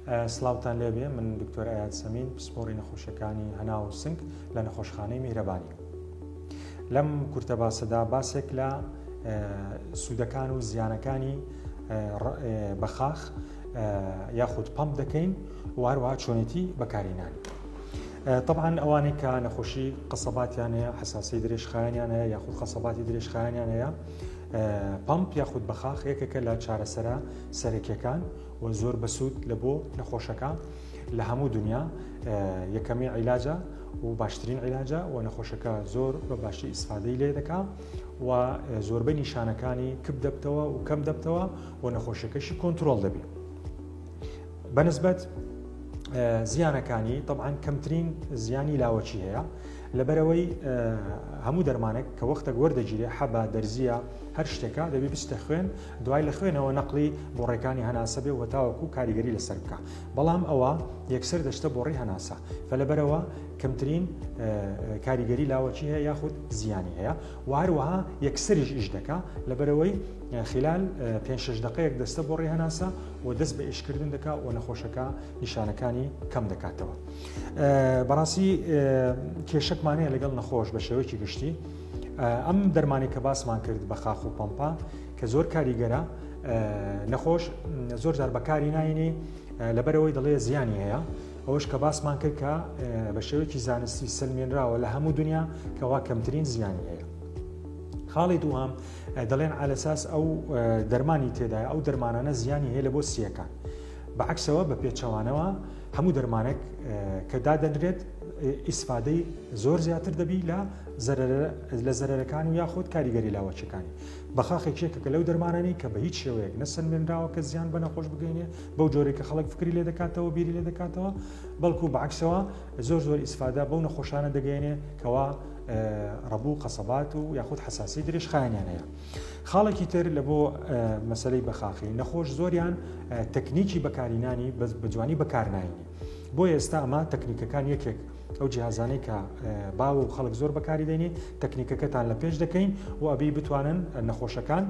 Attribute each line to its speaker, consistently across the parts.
Speaker 1: سڵاوتان لێبێ من دکتۆر ئاات سەمین پسپۆری نەخۆشیەکانی هەناو و سنگ لە نەخۆشخانەی میهرەبانی لەم کورتە باسەدا باسێک لە سوودەکان و زیانەکانی بەخاخ یاخود پمپ دەکەین و هەروە چۆنێتی بەکارینانی طبعاان ئەوانەی کە نەخۆشی قسەباتیان هەیە حساسی درێژخایانیان هەیە یاخود قسەباتی درێژخایانیان هەیە پمپ یاخود بەخاخ یەکێکە لە چارەسەرە سەرەکیەکان و زۆر بەسود لە بۆ نەخۆشەکە لە هەموو دنیا یەکەمی عیلاجە و باشترین عیلاجە و نەخۆشەکە زۆر بە باشی ئیسفادەی لێ دەکا و زۆربەی نیشانەکانی کپ دەبتەوە و کەم دەبتەوە و نەخۆشەکەشی کۆنتترۆل دەبێت بەنسبەت زیانەکانی طبعاان کەمترین زیانی لاوەچی هەیە لەبەرەوەی هەموو دەرمانێک کە وەختە گۆر دەگیرێ حەبا دەرزیە هەر شتێکە دەبی بستە خوێن دوای لە خوێنەوە نەقڵی بۆڕێکانی هەناسە بێ وەتاوەکو کاریگەری لەسەر بکە بەڵام ئەوە یەکسەر دەشتە بۆڕی هەناسە فەلەبەرەوە کەمترین کاریگەری لاوەکی هەیە یاخود زیانی هەیە و هەروەها یەکسەریش ئیش دەکا لەبەرەوەی خلال پێ شش دقەیەک دەستە بۆ ڕێهناسە و دەست بە ئیشکردن دەکا و نەخۆشەکە نیشانەکانی کەم دەکاتەوە بەڕاستی کێشەکمانەیە لەگەڵ نەخۆش بە شێوەیەکی گشتی ئەم دەرمانی کە باسمان کرد بە خاخ و پەمپا کە زۆر کاریگەرە نەخۆش زۆر جار بەکاری ناینێ لەبەرەوەی دەڵێ زیانی هەیە ئەوش کە باسمان کرد کە بە شێوەیەکی زانستی سلمێنراوە لە هەموو دنیا کەوا کەمترین زیانی هەیە خاڵی دووهام دەڵێن ئالەساس ئەو دەرمانی تێدای ئەو دەرمانانە زیانی هەیە لە بۆ سیەکان بەعکسەوە بە پێچەوانەوە هەموو دەرمانێک کە دادەنرێت ئیسفادەی زۆر زیاتر دەبی لە لە زەرەرەکان و یاخود کاریگەری لاوەچەکانی بەخاخێکێکە کە لەو دەرمانانی کە بە هیچ شێوەیەک نەسەنمێنراوە کە زیان بە نەخۆش بگەینێ بەو جۆرێک کە خەڵک فکری لێ دەکاتەوە بیری لێ دەکاتەوە بەڵکو بەعکسەوە زۆر زۆر ئیسفادا بەو نەخۆشانە دەگەێنێ کەوا ڕەبوو قەسەبات و یاخود حساسی دریش خایانیانەیە خاڵێکی تر لە بۆ مەسلەی بەخاخی نەخۆش زۆریان تەکنیکی بەکارینانی بەس بە جوانی بەکارناینی بۆ ئێستا ئەمە تەکنیکەکان یەکێک ئەو جیهازانەی کە باو و خەڵک زۆر بەکاری دێنێ تەکنیکەکەتان لە پێش دەکەین و ئەبی بتوانن نەخۆشەکان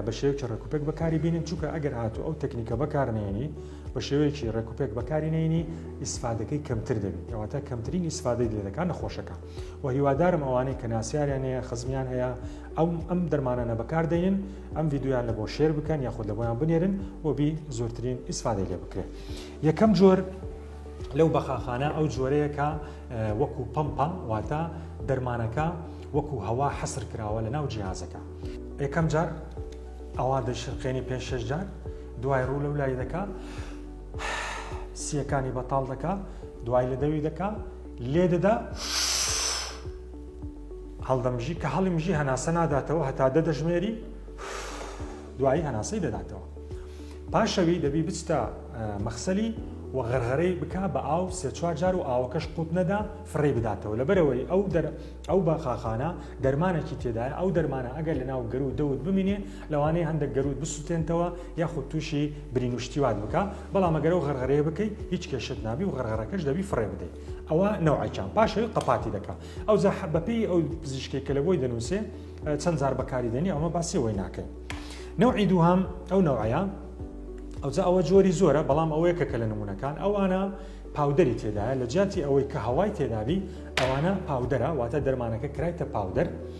Speaker 1: بە شێوکی ڕێکوپێک بەکاری بینن چونکە ئەگەر هاتو ئەو تەکنیکە بەکارنێنی بە شێوەیەکی ڕێکوپێک بەکارینێنی ئیسفادەکەی کەمتر دەبێت ئەواتە کەمترین ئیسفادەی لێ دەکان نەخۆشەکان و هیوادارم ئەوانەی کە ناسیاریان هەیە خزمیان هەیە ئەم ئەم دەرمانانە بەکاردەین ئەم یددیویان لە بۆ شێر بکەن یاخود لە بۆیان بنێرن و بی زۆرترین ئیسفادە لێ بکرێت یەکەم جۆر لەو بەخاخانە ئەو جۆرەیەکە وەکو پمپە واتە دەرمانەکە وەکو هەوا حەسر کراوە لە ناو جیازەکە یەکەم جار ئەوان دەشرقێنی پێ شش جار دوای ڕوو لەو لای دەکە سیەکانی بەتاڵ دەکە دوای لە دەوی دەکە لێدەدا هەڵدەمژی کە هەڵی مژی هەناسە ناداتەوە هەتا دە دەژمێری دوایی هەناسەی دەداتەوە پاشەوی دەبی بچتە مەخسەلی و غەرغەرەی بک بە ئاو سێ چوار جار و ئاوەکەش قوت نەدا فڕێ بداتەوە لەبەرەوەی ئەو دەر ئەو بەخاخانە دەرمانێکی تێدایە ئەو دەرمانە ئەگەر لە ناو گەرو دەوت بمینێ لەوانەیە هەندەک گەرووت بسوتێنتەوە یاخود تووشی برین و شتی وات بکا بەڵام ئەگەر ئەو غەرغەرەیە بکەی هیچ کێشەت نابی و غەرغەرەکەش دەبی فڕێ بدەی ئەوە نەوعەکان پاشەوی قەپاتی دەکا ئەو زاح بەپێی ئەو پزیشکی کە لە بۆی دەنووسێ چەند زار بەکاری دەنی ئەومە باسیەوەی ناکەن نەوعی دووهام ئەو نەوعەیە ئەوجا ئەوە جۆری زۆرە بەڵام ئەوەیە کە کە لە نمونونەکان ئەوانە پاودەری تێدایە لە جیاتی ئەوەی کە هەوای تێدابی ئەوانە پاودەرە واتە دەرمانەکە کرایتە پاودەر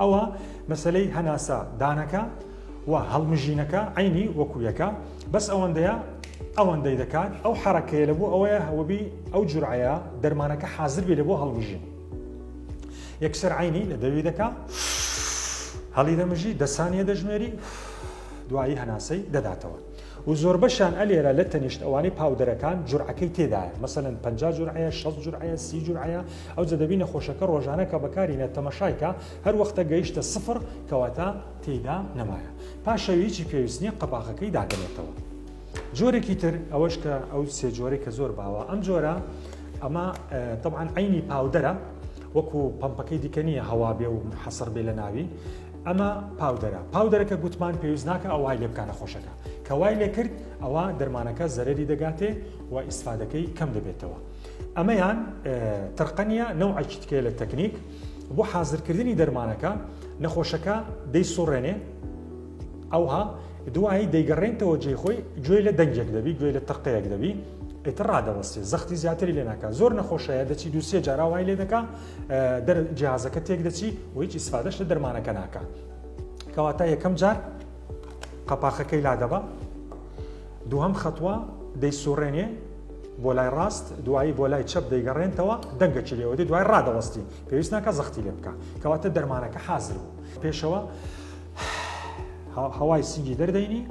Speaker 1: ئەوا مەسەلەی هەناسە دانەکە و هەڵمژینەکە عینی وەکو یەکە بەس ئەوەندەیە ئەوەندەی دەکات ئەو حرەکەیە لە بۆ ئەوەیە هەوەبی ئەو جورعەیە دەرمانەکە حازر بێ لە بۆ هەڵمژین یەکسەر عینی لە دەوی دەکا هەڵی دەمژی دەسانیە دەژمێری دوایی هەناسەی دەداتەوە و زۆربەشیان ئەلێرە لە تەنیشت ئەوانەی پاودەرەکان جورعەکەی تێدایە مەسەلەن پەنجا جورعەیە شەست جورعەیە سی جورعەیە ئەوجە دەبی نەخۆشەکە ڕۆژانە کە بەکارینە تەمەشای کە هەر وەختە گەیشتە سفڕ کەواتە تێیدا نەمایە پاشەوی هیچی پێویست نییە قەباغەکەی دادەنێتەوە جۆرێکی تر ئەوەش کە ئەو سێ جۆرەی کە زۆر باوە ئەم جۆرە ئەمە طبعاان عینی پاودەرە وەکو پمپەکەی دیکە نییە هەوا بێ و حەسەر بێ لە ناوی ئەمە پاودەرە پاودەرە کە گوتمان پێویست ناکە ئەو وای لێ بکە نەخۆشەکە کە وای لێ کرد ئەوە دەرمانەکە زەرری دەگاتێ و ئیسفادەکەی کەم دەبێتەوە ئەمەیان ترقەنە نەوعەکی تکێ لە تەکنیک بۆ حازرکردنی دەرمانەکە نەخۆشەکە دەی سوڕێنێ ئەوها دوایی دەیگەڕێنتەوە جێ خۆی گوێ لە دەنگێک دەبی گوێ لە تەقەیەک دەبی ئیتر ڕادەوەستی زەختی زیاتری لێناکە زۆر نەخۆشەیە دەچی دووسێ جاراوای لێ دەکە دەر جیازەکە تێک دەچی و هیچ ئیسفادەش لە دەرمانەکە ناکە کەواتە یەکەم جار قەپاخەکەی لادەبە دووهم خەتوە دەی سوڕێنێ بۆ لای ڕاست دوایی بۆ لای چەپ دەیگەڕێنتەوە دەنگەکی لێوەدی دوای ڕادەوەستی پێویست ناکە زەختی لێ بکە کەواتە دەرمانەکە حازر بوو پێشەوە هەوای سنگی دەردەینی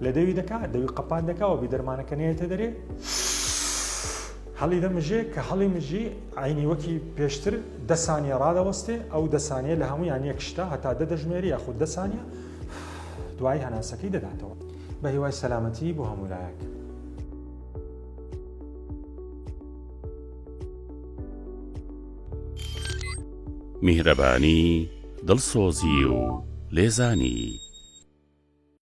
Speaker 1: لە دەوی دەکا دەوی قەپان دەکا و بیدەرمانەکە نێتە دەرێ هەڵی دەمژێ کە هەڵی مژی ئاینی وەکی پێشتر دەسانیە ڕادەوەستێ ئەو دەسانیە لە هەمویان یەک شتا هەتا دە دەژمێری یاخود دەسانە دوای هەناسەکەی دەداتەوە بە هیوای سەلامەتی بۆ هەمولایەک
Speaker 2: میهرەبانی دڵسۆزی و لێزانی